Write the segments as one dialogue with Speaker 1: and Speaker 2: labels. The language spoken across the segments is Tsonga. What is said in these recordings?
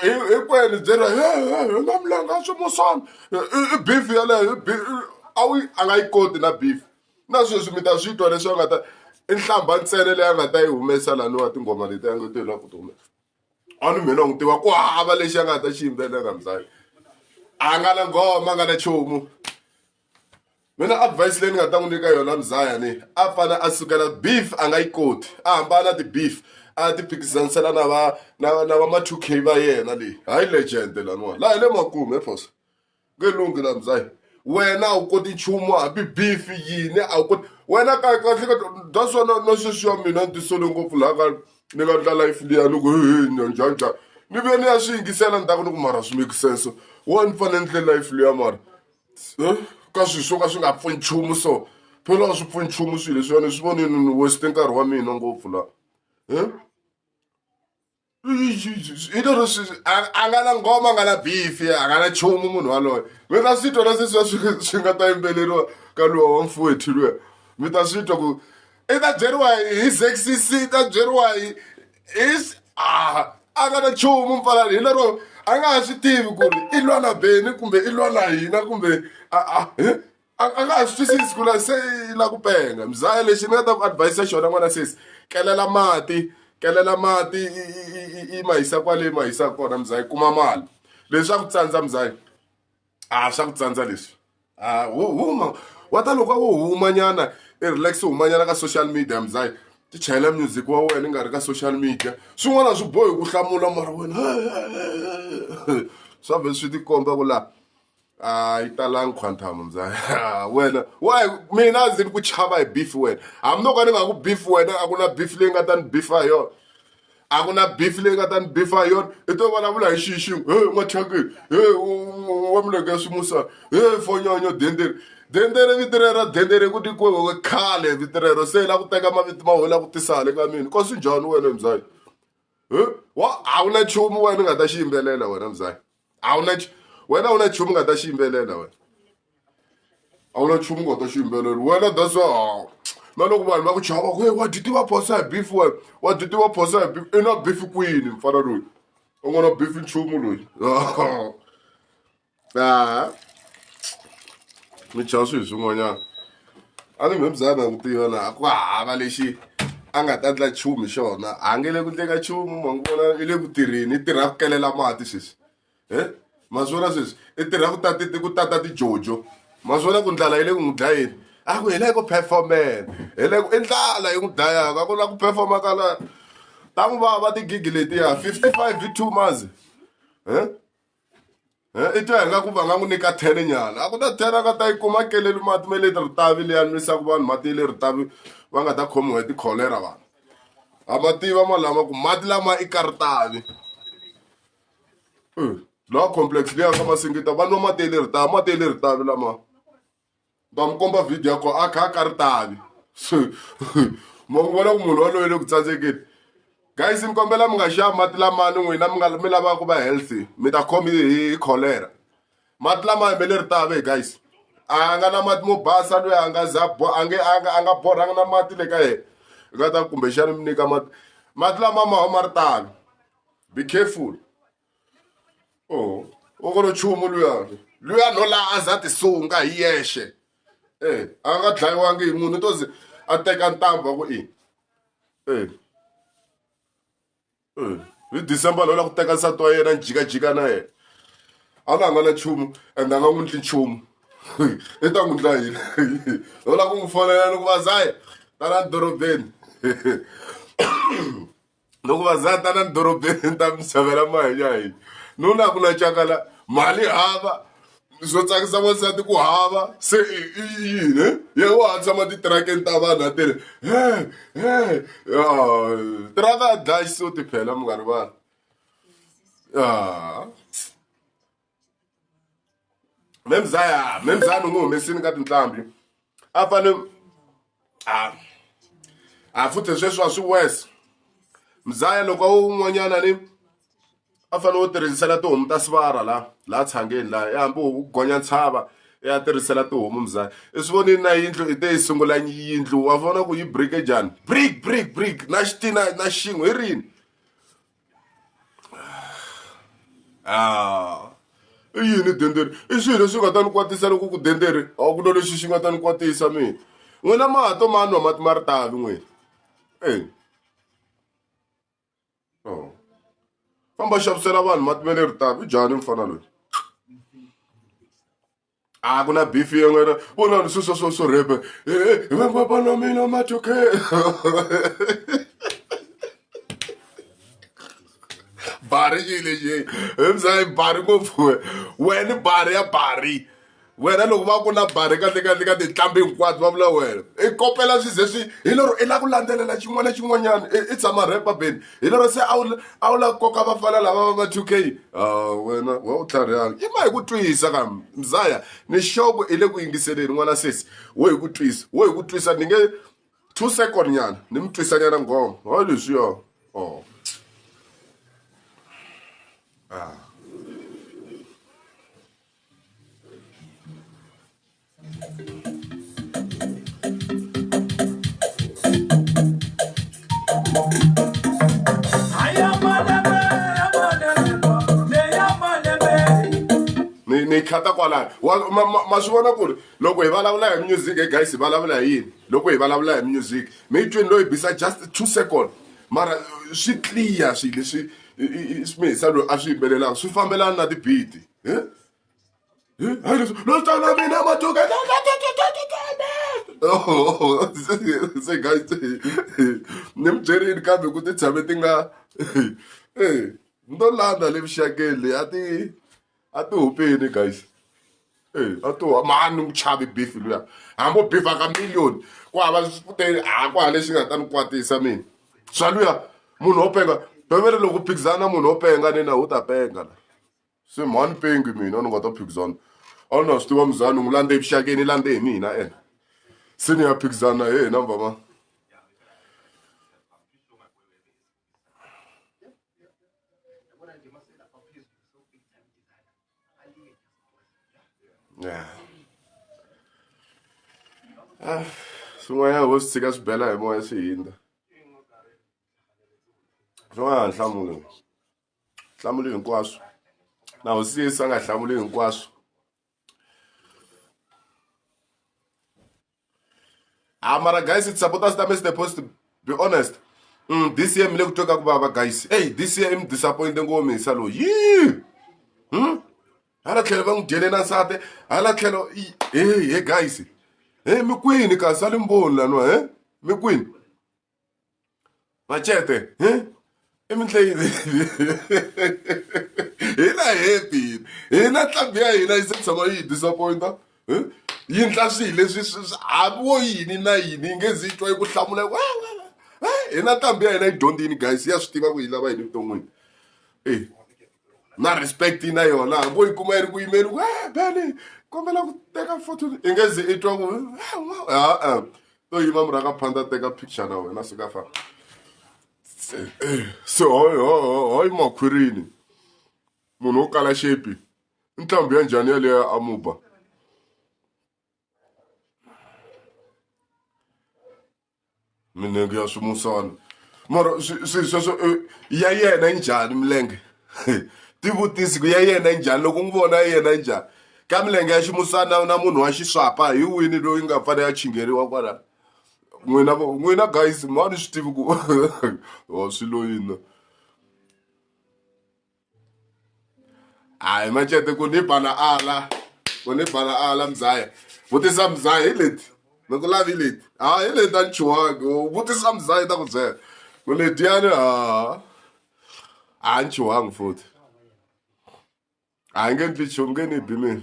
Speaker 1: hinkwenu byela na milanga swi musana i beef yaleyo a wu a nga yi koti na beef na sweswi mi ta swi twa leswi a nga ta i nhlamba ntsele leyi a nga ta yi humesa laniwa tinghoma leti a nga ti la ku ti humesa a ni mina n'wi tiva ku hava lexi a nga ta xi yimbelela mzali a nga na nghoma a nga na chomu mina advice leyi ni nga ta n'wi nyika yona muzaya ni a fane a sukela beef a nga yi koti a hambana na ti-beef a ti phikizanisela na va na na va ma-two k va yena leyi hayi legend laniwani laha hi le makumu efoso nge lunghi la muzaya wena a wu koti nchumu hambi beef yini a wu koti wena kahle kahle that's why na sweswi ya mina ni tisole ngopfu laha ka ni nga ndla life liya ni ku njhanjhani ni vuye ni ya swi yingisela ni ta ku ni ku mara swi make sense wo ni fanele ni tle life liya mara ka swilo swo ka swi nga pfuni nchumu so phela a swi pfuni nchumu swilo leswi ni swi vonile ni weste nkarhi wa mina ngopfu la i to leswi a nga na ngoma a nga na bifi a nga na nchumu munhu waloye mi ta swi twa na sweswi swi swi nga ta yimbeleriwa ka luwa wa mfowethu luya mi ta swi twa ku i ta byeriwa hi zexc i ta byeriwa hi is a a nga na nchumu mpfalani hi lero a nga ha swi tivi ku ri i lwa na beni kumbe i lwa na hina kumbe a a eh? a a nga ha swi twisisi ku la se i la ku penga mzaya lexi ni nga ta ku advise xona n'wana sesi kelela mati kelela mati i i i i ma hisa kwale ma hisa kona mzaya kuma mali leswaku tsandza mzaya a swa ku tsandza leswi a wo huma wa ta loko a wo humanyana i relax humanyana ka social media mzayi ti chayela music wa wena i nga ri ka social media swin'wana swi bohi ku hlamula mara wena swa vhe swi tikomba ku laha a yi talangi quantum mzayi wena wayi mina ndzi ni ku chava hi beef wena hambi no ka ni nga ku beef wena a ku na beef leyi nga ta ni beef ha yona a ku na beef leyi nga ta ni beef ha yona i to vulavula hi xihi xin'we he n'wachakeni he wa milenge ya swimusana he fonyonyo dendere dendere vito rero dendere ku tikiwe khale vito rero se la ku teka mavito ma wena ku tisa hale ka mina ka swi njhani wena mzali he wa a wu na nchumu wena u nga ta xi yimbelela wena mzali. a wu na wena a wu na nchumu nga ta xi yimbelela wena a wu na nchumu nga ta xi yimbelela wena that's why na loko vanhu va ku chava we wa dyi tiva phosa hi beef wena wa dyi tiva phosa hi beef i na beef kwini mfana loyi u nga na beef nchumu loyi a mi chava swilo swin'wanyana a ni mhembyana hi n'wi tiva laha ku hava lexi a nga ta endla nchumu hi xona a nge le ku endleka nchumu ma n'wi vona i le ku tirheni i tirha ku kelela mati sweswi e ma swi vona sweswi i tirha ku tata ku tata tijojo ma swi vona ku ndlala yi le ku n'wi dlayeni a ku hi le ku performeni hi le ku i ndlala yi n'wi dlayaka a ku na ku performa ka la ta n'wi vava tigigi letiya fifty five hi two months e i twa ingaku va nga n'wi nyika ten nyana a ku ta ten a nga ta yi kuma keleli mati me leti ritavi leyi a nwisaku vanhu mati ya le ritavi va nga ta khomiwa hi tikholera vanhu a ma tiva ma lama ku mati lama i ka ritavi lawa complex leyi ya ka masingita va nwa mati ya le ritavi mati ya le ritavi lama. va mi komba video ya kona a kha a ka ri tavi so ma n'wi vona ku munhu waloye le ku tsandzekeni guys ni kombela mi nga xava mati lamani n'wina mi nga mi lavaka ku va healthy mi ta khomi hi cholera mati lama hembe leri tave guys a nga na mati mo basa loyi a nga za a nge a nga a nga borhangi na mati le ka yena nga ta kumbexana mi nyika mati mati lama ma huma ri tano be careful o o kolo chumu luyani luyani o laha a za ti sunga hi yexe e a nga dlayiwangi hi munhu i to ze a teka ntambu wa ku i e e hi december loyi la ku teka nsati wa yena njikajika na yena a la nga na nchumu ende a nga n'wi ndli nchumu i ta n'wi ndla yini loyi la ku n'wi fonela loko va zaye tala dorobeni loko va za ta na dorobeni ta misava la mahanya hina nuna ku na cakala mali hava swo tsakisa wansati ku hava se i yini ye wa ha tshama titirakeni ta vanhu a tele he he tiraka a dlayi so tiphela mi nga rivala me mzaya me mzaya ni n'wi humesini ka tinqambi a fane a a futhi sweswi a swi wes mzaya loko a un'wanyana ni a fane wo tirhisela tihomu ta sivara la la tshangeni la ya hambi u gonya ntshava ya tirhisela tihomu mzaya i swi vonini na yindlu i te yi sungula yindlu wa vona ku yi brike njhani brik brik brik na xitina na xin'we hi rini ah, i yini denderi i swilo leswi nga ta ni kwatisa loko ku denderi a ku lo lexi xi nga ta ni kwatisa mina n'wina mato ma nwa mati ma ri talo n'wina e oh. famba xavisela vanhu mati ma le ri talo i jani mfana loyi a ku na beef yin'wana vona leswi swo swo swo rhepe hi va va va na mina matoke bari yi lexi hi mzayi bari ngopfu wena bari ya bari wena loko va ku na bari kahle kahle ka tinhlambi hinkwato va vula wena i kopela swi ze swi hi lero i lava ku landzelela xin'wana na xin'wanyana i tshama rhepa beni hi lero se a wu a wu lava koka vafana lava va va two k wena wa u tlharihanga i ma hi ku twisa ka mzaya ni xoko i le ku yingiseleni n'wana sesi wo hi ku twisa wo hi ku twisa ni nge two second nyana ni mi twisanyana nghoma ha leswiya o ah ni ni khata kwalano ma swi vona ku ri loko hi vulavula hi music guys hi vulavula hi yini loko hi vulavula hi music mi yi twini loyi bisa just two second mara swi clear swilo leswi swi mihisa loyi a swi yimbelelaka swi fambelana na ti-beat. Don't stop loving them, but you guys. Oh, se guys, ni mi byerile kambe ku ti tshame ti nga eh ndo landa le vuxakeli a ti a ti hupeni guys eh a to mani ku chavi beef luya hambo beef aka million ku hava switele ha ku hale xi nga ta ni kwatisa mina swa luya munhu wo penga bevere loko phikizana munhu wo penga ni na wu ta penga la se mhani pengi mina ni nga ta phikizana a ni na swi tiva muzani u n'wi landze evuxakeni i landze hi mina ena se ni ya phikizana na yena mvama yeah. ah, swin'wanyana vo swi tshika swi bela hi moya swi hindza swi nga ha nhlamulo hlamuli hinkwaswo na hosi yesu a nga hlamuli hinkwaswo ha ah, mara guys supporters ta mr post to be honest mm, this year mi le ku twa ka ku vava guys ey this year i mi disappointe ngopfu misa loyi yii hmm? hala tlhelo va n'wi dyele na nsati hala tlhelo e he guys e mi kwini kasi a li mboni laniwa e mi kwini machete hi i mintlayini hi na happy hi na ntlhambi ya hina yi se tshama yi hi disappointa yi ndla swihi leswi hambi wo yini na yini yi nge zi yi twa yi ku hlamula wa hi na ntlhambi ya hina yi dyondzini guys ya swi tiva ku yi lava yini evuton'wini e na respect na yona hambo yi kuma yi ri ku yimeli ku e bene kombela ku teka foto i nge ze i twa ku a-a to yima mura ka phanda teka picture na wena swi ka fa se hoy makhwirini munhu wo kala xepi i ntlhambi ya njhani yaleyo a muba minenge ya swimusana mara swi sweswo eh, ya yena yi njhani milenge tivutisi ku ya yena yi njhani loko n'wi vona ya yena yi njhani ka milenge ya ximusana na munhu wa xiswapa hi wini loyi nga fanele ya chingeriwa kwalano n'wina n'wina guys mani swi tivi ku wa swi loyini hayi macete ku ni bala ala ku ni bala ala mzaya vutisa mzaya hi leti ni ku lavi leti ha hi leti a ni chuwangi vutisa mzaya ta ku byela ku letiyani ha a ni chuwangi futhi a nge ndzi chonge ni bi mina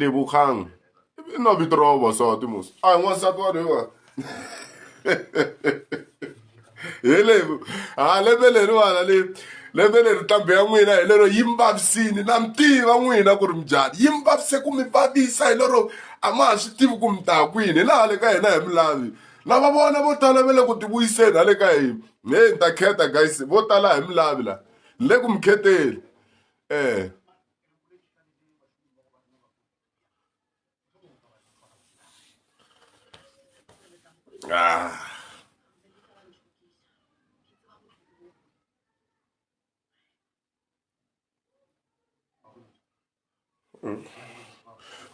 Speaker 1: lebokgang e nna vito ra vavasati mos a hi n'wansati wa lewa hi levo ha lembe leriwana le lembe leri ntambu ya n'wina hi lero yi mi vavisini na mi tiva n'wina ku ri mi njhani yi mi vavise ku mi vavisa hi lero a ma ha swi tivi ku mi ta kwini hi laha le ka hina hi mi lavi lava vona vo tala va le ku tivuyiseni ha le ka hina heyi ni ta kheta guys vo tala hi mi lavi la ni le ku mi kheteni um Ah.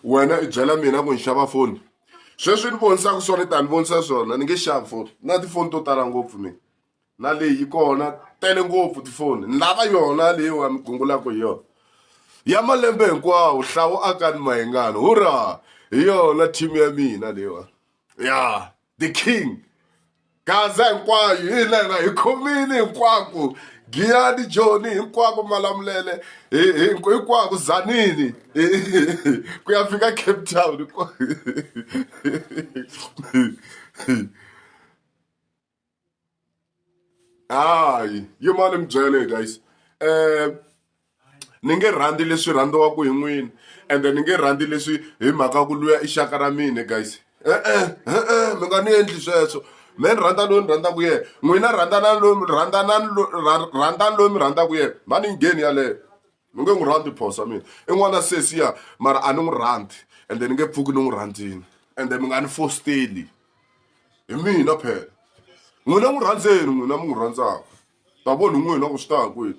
Speaker 1: wena i byela mina ku ni xava foni sweswi ni vonisaka swona tani vonisa swona ni nge xavi foni na tifoni to tala ngopfu mina na leyi yi kona tele ngopfu tifoni ni lava yona leyi wa mi gungulaka hi yona ya malembe hinkwawo hlawu aka ni mayengani hurra hi yona team ya mina leyiwa ya the king gaza hinkwayo hi lena hi khomile hinkwako giyani joni hinkwako malamulele hinkwako zanini ku ya fika cape town hayi yi ma ni mi byele guys um ni nge rhandzi leswi rhandziwaka hi n'wini ende ni nge rhandzi leswi hi mhaka ku luya i xaka ra mina guys e-e e-e mi nga ni endli sweswo me ni rhandza loyi ni rhandzaka yena n'wina rhandzanani loyi rhandzanani rhandzani loyi mi rhandzaka yena va ni ngheni yaleyo ni nge n'wi rhandzi phoso wa mina i n'wana sesi ya mara a ni n'wi rhandzi ende ni nge pfuki ni n'wi rhandzini ende mi nga ni fosteli hi mina phela n'wina n'wi rhandzeni n'wina mi n'wi rhandzaka ta voni n'wina ku swi ta kwini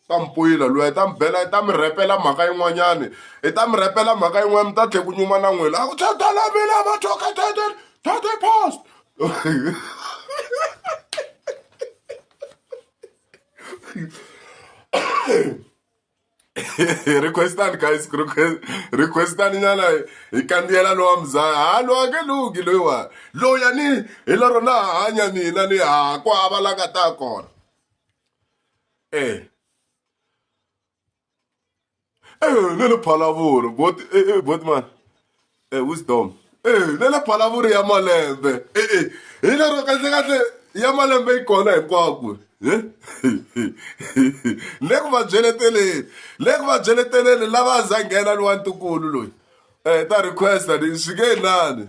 Speaker 1: ta mi puyila loyi ta mi bela i ta mi rhepela mhaka yin'wanyani i ta mi rhepela mhaka yin'wana mi ta tlhe ku nyuma na n'wina a ku tatala mina va thoka tata tata post requestani guys requestani nyana hi kandziyela lowa mzaya ha lowa nge lungi loyiwani loya ni hi lero na hanya mina ni ha ku hava la nga ta kona e Eh, le le phalavuri bot eh, eh, botman eh, wisdom eh, le le phalavuri ya malembe eh, eh. hi lero kahlekahle ya malembe yi kona hinkwako eh? le ku va byeleteleni le ku va byeleteleni lava a za nghena ni wa ntukulu loyi um ta requesta ni swi nge nani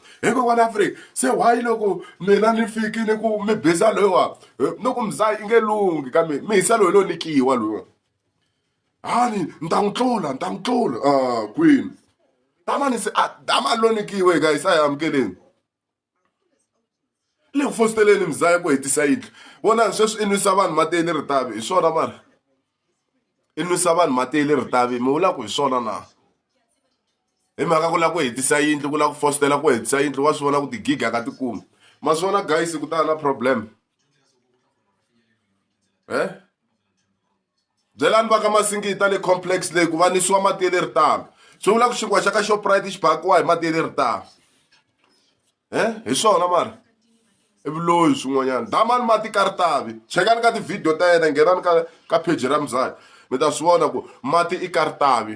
Speaker 1: hikokwalaho a furiki se why loko mina ni fikile ku mi biza loyiwa no ku mzaya i nge lunghi ka mina mi hisa loyi loyi ni kiwa loyiwa hani ni ta n'wi tlula ni ta n'wi tlula a ah, kwini damani se a ah, dama lo ni kiwe ka hisa ya amukeleni le ku fositeleni mzaya ku hetisa yindlu vona sweswi i nwisa vanhu mateni ritavi hi swona mara i nwisa vanhu mati ya le ritavi mi vulaka hi swona na hi mhaka ku lava ku hetisa yindlu ku lava ku fositela ku hetisa yindlu wa swi vona ku tigiga ka tikumi ma swi vona guys ku ta na problem e byelani va ka masingita le complex leyi ku va nisiwa mati ya le ritavi swi vula ku xinkwa xa ka shoprite xi bakiwa hi mati ya le ritavi he hi swona mara i vuloyi swin'wanyana damani mati ka ri tavi chekani ka tivhidiyo ta yena nghenani ka ka pheji ra muzaki mi ta swi vona ku mati i ka ri tavi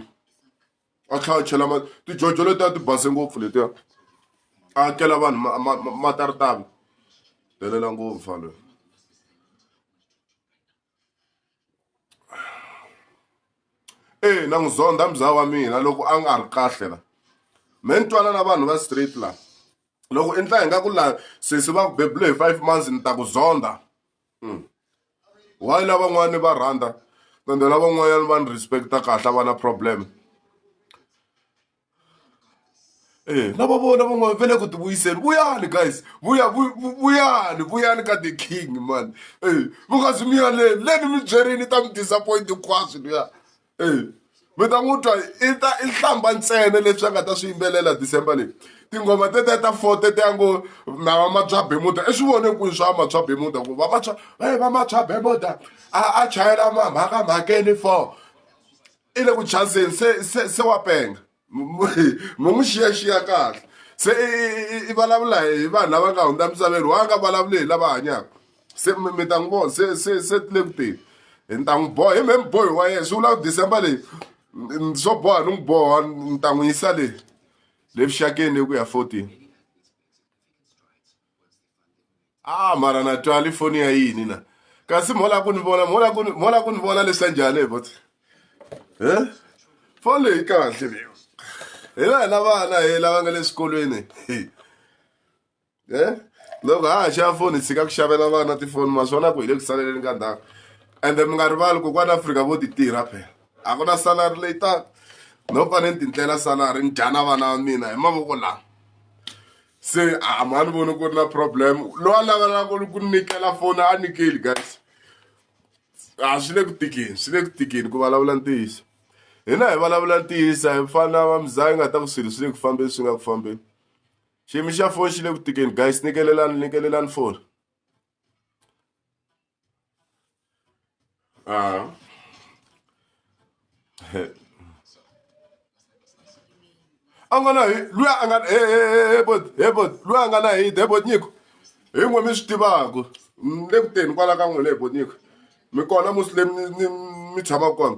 Speaker 1: a tlhela a chela mati tijojo letiya ti base ngopfu letiya a hakela vanhu mati a ri tavi helela ngopfu faloyi ee na n'wi zondha mzaa wa mina loko a nga ri kahle la me ni twana na vanhu va straight la loko endla hi nga ku la sesi va ku bebule hi five months ni ta ku zondha hmm. why lavan'wana ni va rhandza ende lavan'wanyana va ni respecta kahle va na problem E na va vona van'wana va le ku ti vuyiseni vuyani guys vuya vuyani vuyani ka the king mani e mi nga zi mi yaleni leni mi byerini ta mi disappoint hinkwaswo luya e mi ta n'wi twa i ta i hlamba ntsena leswi a nga ta swi yimbelela December leyi tinghoma tetiya ta four tetiya ngo na va ma bya bemuda i swi vone kwihi swa ma bya bemuda ku va vantshwa va ma bya bemuda a a chayela mamhaka mhakeni four i le ku chazeni se se se wa penga mu n'wi xiyaxiya kahle se i vulavula hi vanhu lava nga hundza misaveni wa nga vulavuli hi lava hanyaka se mi ta n'wi vona se se se ti le ku teni hi ni ta n'wi boha hi me mi bohi wa yena swi vula ku december leyi swo boha ni n'wi boha ni ta n'wi yisa le le vuxakeni le ku ya fourteen a ah, mara na twali foni ya yini na kasi mola ku ni vona mola ku mola ku ni vona leswi ya njhani bot he foni leyi kahle leyo hi la hina vana hi lava nga le swikolweni he loko ha ha xava foni hi tshika ku xavela vana tifoni naswona ku hi le ku saleleni ka ndhawu ende mi nga rivali ku kwana afrika vo ti tirha phela a ku na salari leyi taka no fane ni tindlela salari ni dya na vana va mina hi mavoko lawa se a ma ni voni ku ri na problem loyi a lavelaka ku nyikela foni a nyikeli guys a swi le ku tikeni swi le ku tikeni ku vulavula ntiyiso hina hi vulavula ntiyiso hi fana va muzaya yi nga ta ku swilo swi le ku fambeni swi nga ku fambeni xiyimo xa foni xi le ku tikeni guys nikelelani nikelelani foni Uh, a nga na loyi a nga hebot hebot loyi a nga na hit hebot nyiko hi n'we mi swi tivaka ni le ku teni kwala ka n'wina hebot nyiko mi kona musi le mi tshamaka kona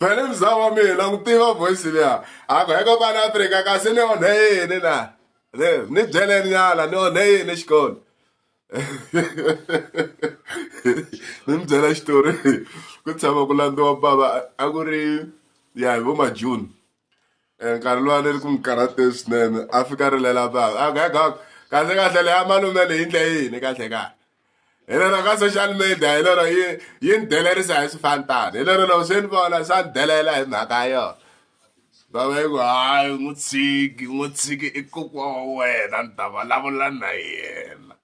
Speaker 1: vele mzaa wa mina ku tiva voice liya a ku heka kwala afrika kasi ni onhe yini na ni byeleni nyala ni onhe yini xikolo ni mi byela xitori ku tshama ku landziwa bava a ku ri ya hi vo majuni nkarhi luwa ni ri ku mi karhateni swinene a fika a rilela vanhu a ga ga kahle kahle leyi a malume leyi endle yini kahle kahle hi lero ka social media hi lero yi yi ni delerisa hi swifantani hi lero loko swi ni vona swa ni delela hi mhaka ya yona va va yi ku hayi n'wi tshiki n'wi tshiki i kokwa wa wena ni ta vulavula na yena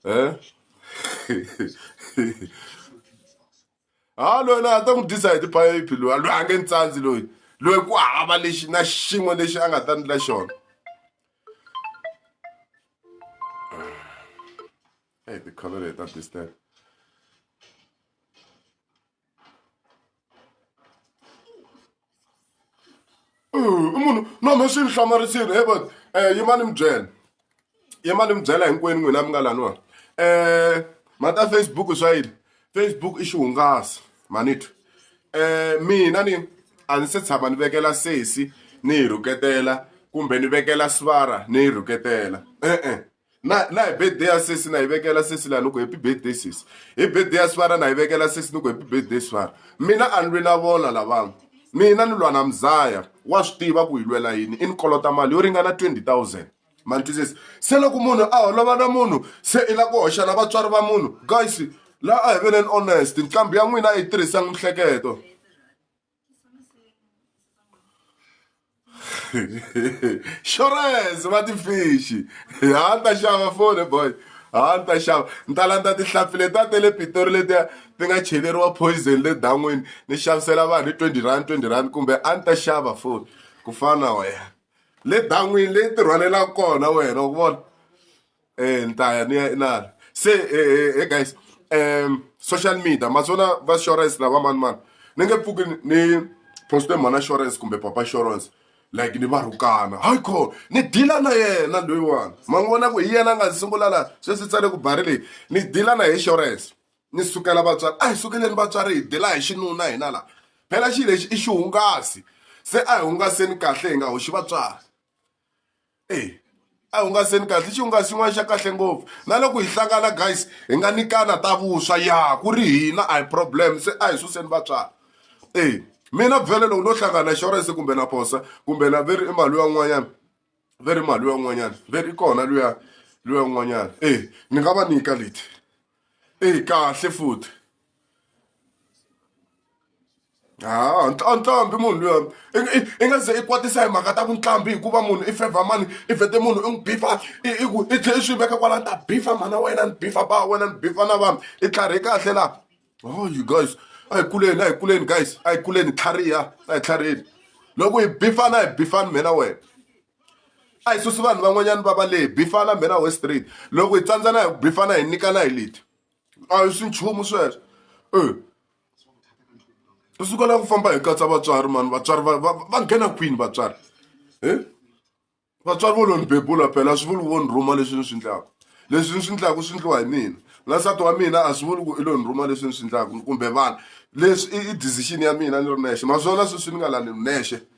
Speaker 1: um ha loyi loyi a ta n'wi dyisa hi tiphayiphi loyi loyi a nge ni tsandzi loyi loyi ku hava lexi na xin'we lexi a nga ta ndla xona hey tikholo leti ta disturb i munhu no no swi ni hlamarisile he vona um yimani mi byela yimani mi byela hinkwenu n'wina mi nga laniwani um mhaka ya facebook swa yini facebook i xihungasi manitwa um mina ni a ni se tshama ni vekela sesi ni yi rhuketela kumbe ni vekela sivara ni yi rhuketela e-e na na hi birthday ya sesi na yi vekela sesi laha ni ku happy birthday sesi hi birthday ya swara na yi vekela sesi ni ku happy birthday swara mina a ni lwi na vona lavanga mina ni lwa na mzaya wa swi tiva ku hi lwela yini i ni kolota mali yo ringana 20000 mantwisisi se loko munhu a holova na munhu se i la ku hoxa na vatswari va munhu guys laha a hi veneni honest nqambi ya n'wina a yi tirhisanga mihleketo xorese va tifishi ha ni ta xava fone boy ha ni ta xava ni ta landza tihlampfi leti a te le pitori letiya ti nga cheleriwa poison le dan'wini ni xavisela vanhu hi twenty rand twenty rand kumbe a ni ta xava foni ku fana na wena le dan'wini leyi tirhwanelaka kona wena wa ku vona eh ni ta ya ni ya inala se eh, eh, eh guys um social media maswona va insurance lava mani mani ni nge pfuki ni poste mhana insurance kumbe papa insurance like ni va rhukana hayi kho ni dila na yena loyiwani ma n'wi vona ku hi yena a nga sungula la sweswi tsale ku bari leyi ni dila na hi insurance ni sukela vatswari a hi sukeleni vatswari hi dila hi xinuna hina la phela xi lexi i xihungasi se a hi hungaseni kahle hi nga hoxi vatswari eyi a hungaseni kahle i xihungasi xin'wana xa kahle ngopfu na loko hi hlangana guys hi nga nyikana ta vuswa ya ku ri hina a hi problem se a hi suseni vatswari eyi mina vhele loko no hlangana na insurance kumbe na posa kumbe na ve ri i mali yan'wanyana ve ri mali yan'wanyana ve ri i kona luya luya n'wanyana eyi ni nga va nyika leti. eyi kahle futhi ha ntlambhi munhu luya i nga ze i kwatisa hi mhaka ta vuntlambi hikuva munhu i fevha mani i vhete munhu i n'wi bifa i i ku i tlhe i swi veka kwala ni ta bifa mhana wena ni bifa ba wena ni bifa na vanhu i tlharhi kahle laha oh you guys a hi kuleni a hi kuleni guys a hi kuleni tlhariha a hi tlhariheni loko hi bifana hi bifani mina wena. a hi susi vanhu van'wanyana va va lehe bifana mbhena west street loko hi tsandzana hi bifana hi nyikana hi leti a hi swi nchumu sweswo e u sukela ku famba hi katsa vatswari mani vatswari va va va nghena kwini vatswari e vatswari vo lo ni bebula phela a swi vuli vo ni rhuma leswi ni swi ndlaku leswi ni swi ndlaku swi ndliwa hi mina na nsati wa mina a swi vuli ku i lo ni rhuma leswi ni swi ndlaku kumbe vana leswi i decision ya mina ni ri nexe naswona sweswi ni nga lani nexe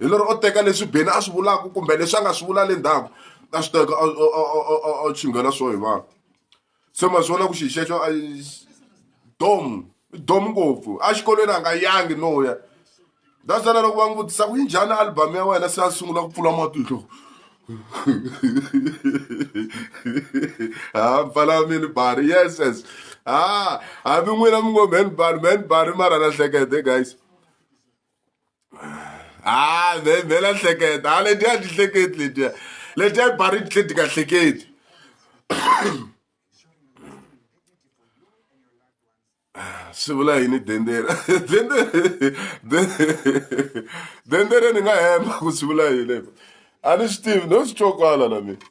Speaker 1: hi lero o teka leswi beni a swi vulaka kumbe leswi a nga swi vula le ndzhaku a swi teka a chinghela swo hi vanhu se ma swi vona ku xi xexo dom dom ngopfu exikolweni a nga yangi no ya that's why loko va n'wi vutisa ku yi njhani album ya wena se a sungula ku pfula matihlo ha pfala mini bari yes yes ha hambi n'wina mi ngo man bari man bari mara lahlekete guys ha vhela hleketa ha letiya ti hleketi letiya letiya bari ti tlhe ti ka hleketi swi vula yini dendera dendere ni nga hemba ku swi vula yini a ni swi tivi no swi twa kwala na mina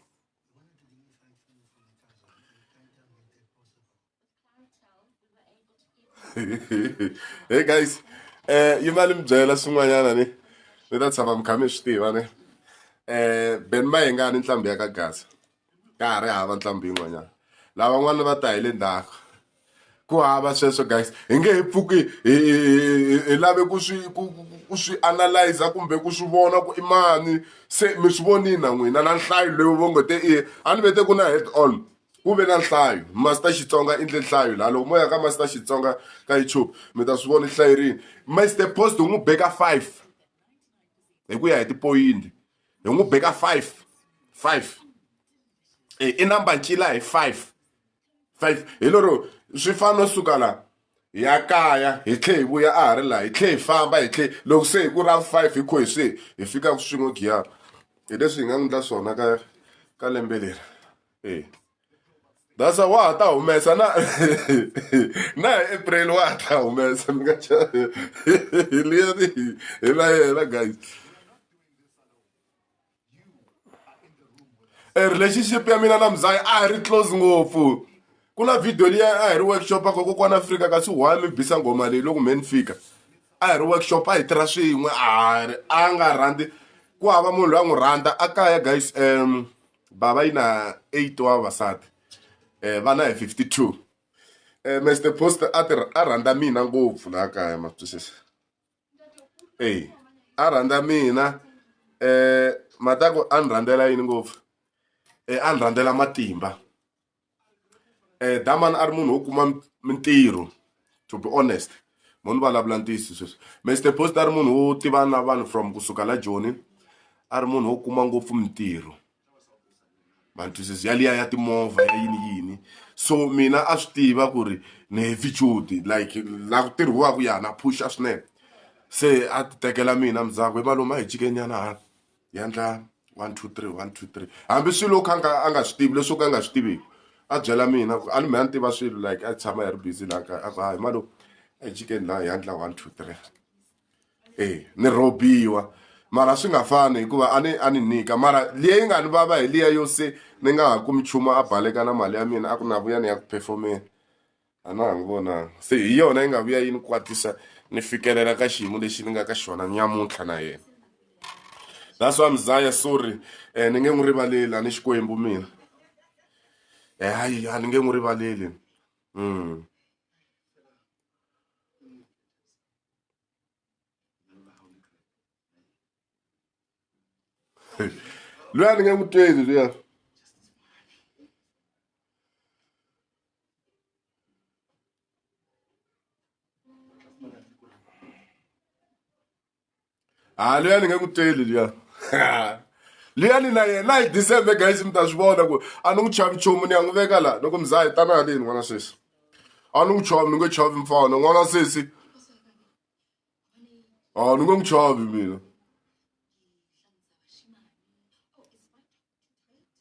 Speaker 1: hey guys eh yi mali mi byela swin'wanyana ni ni ta tshama mi kha mi swi tiva ni eh ben ma hi nga ni ntlhambi ya ka gasa ka ha ri hava ntlhambi yin'wanyana lavan'wana va ta hi le ndzhaku ku hava sweswo guys hi nge hi pfuki hi lave ku swi ku swi analyza kumbe ku swi vona ku i mani se mi swi vonini na n'wina na nhlayo leyi vo ngo te i a ni vete ku na head on ku ve na nhlayo master xitsonga i ndle nhlayo laha loko mo ya ka master xitsonga ka youtube mi ta swi vona hlayo rini master post u n'wi beka five hi ku ya hi tipoyinti hi n'wi beka five five e, i namba ncila hi five five hi lero swi fana no suka la hi ya kaya hi tlhe hi vuya a ha ri laha hi tlhe hi famba hi tlhe loko se hi ku ra five hi kho hi swi hi fika ku swin'we giyara hi leswi hi nga n'wi endla swona ka ka lembe leri eh dasa wa ha ta humesa na na hi april wa ha ta humesa mi nga liyani hi la yena guys e relationship ya mina na mzaya a hi ri close ngopfu ku na video liya a hi ri workshop ako kokwana afrika kasi why mi bisa ngoma leyi loko me ni fika a hi ri workshop a hi tirha swin'we a ri a nga rhandzi ku hava munhu loyi a n'wi rhandza a kaya guys um bava yi na eight wa vavasati um vana hi fifty two um mr post a ti a rhandza mina ngopfu laha kaya ma twisisa eyi a rhandza mina um mhata ku a ni rhandzela yini ngopfu um a ni rhandzela matimba Damani a ri munhu wo kuma mintirho to be honest mo ni vulavula ntiyiso sweswi Mister Post a ri munhu wo tiva na vanhu from kusuka la joni a ri munhu wo kuma ngopfu mintirho ma ni twisisa ya liya ya timovha ya yini yini so mina a swi tiva ku ri ni heavy duty like la ku tirhiwaka ya na phusha swinene se a ti tekela mina ndzhaku he malume a hi jike nyana hala. hi endla one two three one two three hambi swilo kha nga a nga swi tivi leswo ka a nga swi tiviki a byela mina ku a ni me a ni tiva swilo like a tshama hi ri busy laha kaya a ku hayi malo ejikeni laha hi endla one two three e ni rhobiwa mara swi nga fani hikuva a ni a ni nyika mara leyi nga ni vava hi liya yo se ni nga ha kumi nchumu a baleka na mali ya mina a ku na vuya ni ya ku performeni a na ha n'wi vonanga se hi yona yi nga vuya yi ni kwatisa ni fikelela ka xiyimo lexi ni nga ka xona nyamuntlha na yena that's why mzaya sorry um ni nge n'wi rivaleli a ni xikwembu mina um hayi a ni nge n'wi rivaleli um loyi a ni nge n'wi tweli luya ha ah, luya ni nge n'wi tweli luya liyani na yena hi december guys mi ta swi vona ku a ni n'wi chavi chomu ni ya n'wi veka laha loko mi za hi tana haleni n'wana sesi a ni n'wi chovi ni nge chovi mfana n'wana sesi Ah, nunca me chove, menina.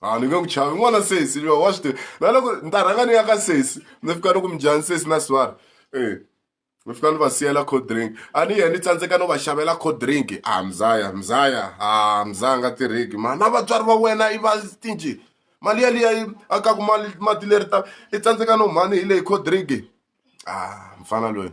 Speaker 1: Ah, ni nge ku chavi n'wana sesi lowa wa swi tiva na loko ni ta rhanga ni ya ka sesi ni fika loko mujani sesi na swara e eh, ni fika ni va siyela cold drink a ni ye ni tsandzeka no va xavela cold drink a ah, mzaya mzaya a ah, mzaya nga tirhiki ma na vatswari va wena i va stinji mali yaliya yi akaku mali mati leri ta i tsandzeka no mhani hi leyi coldrink a mfana loyi.